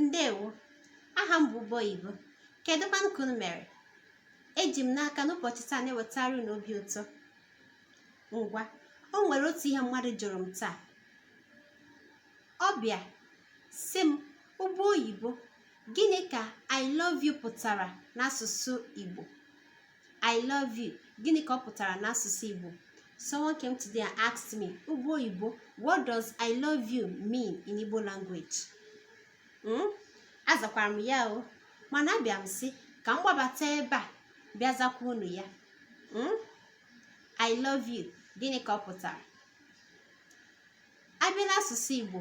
ndewo aha m bụ ụgbọ oyibo kedu kwanụ ka unu mere eji m n'aka n'ụbọchị taa na-ewetara unu obi ụtọ ngwa o nwere otu ihe mmadụ jụrụ m taa ọ bịa sị m ụgbọ oyibo gịnị ka i love you pụtara n'asụsụ igbo I love you. Gịnị ka ọ pụtara n'asụsụ Igbo? Someone came today and asked me, Ụgbọ Oyibo, what does I love you mean in Igbo language? Hmm? Azakwara m ya o, mana abịa m sị ka m gbabata ebe a bịa zakwa unu ya. Hmm? I love you. Gịnị ka ọ pụtara? A bịa n'asụsụ Igbo,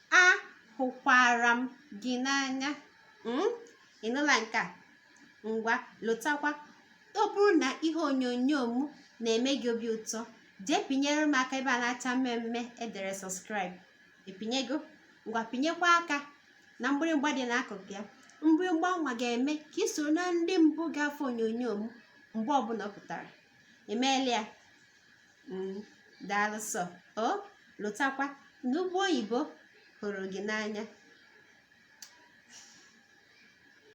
ahụkwara m gị n'anya hmm? ị nụla nke a ngwa lotakwa ọ bụrụ na ihe onyonyo m na-eme gị obi ụtọ jee pịnyere m aka ebe a na-acha mmee mmee e dere subscribe ị pịnyego ngwa pịnyekwa aka na mgbịrịgba dị n'akụkụ ya mgbịrịgba nwa ga-eme ka i soro na ndị mbụ ga-afụ onyonyo m mgbe ọbụla ọ pụtara i meela ya mm, daalụ sọ o lotakwa na ụgbọ oyibo hụrụ gị n'anya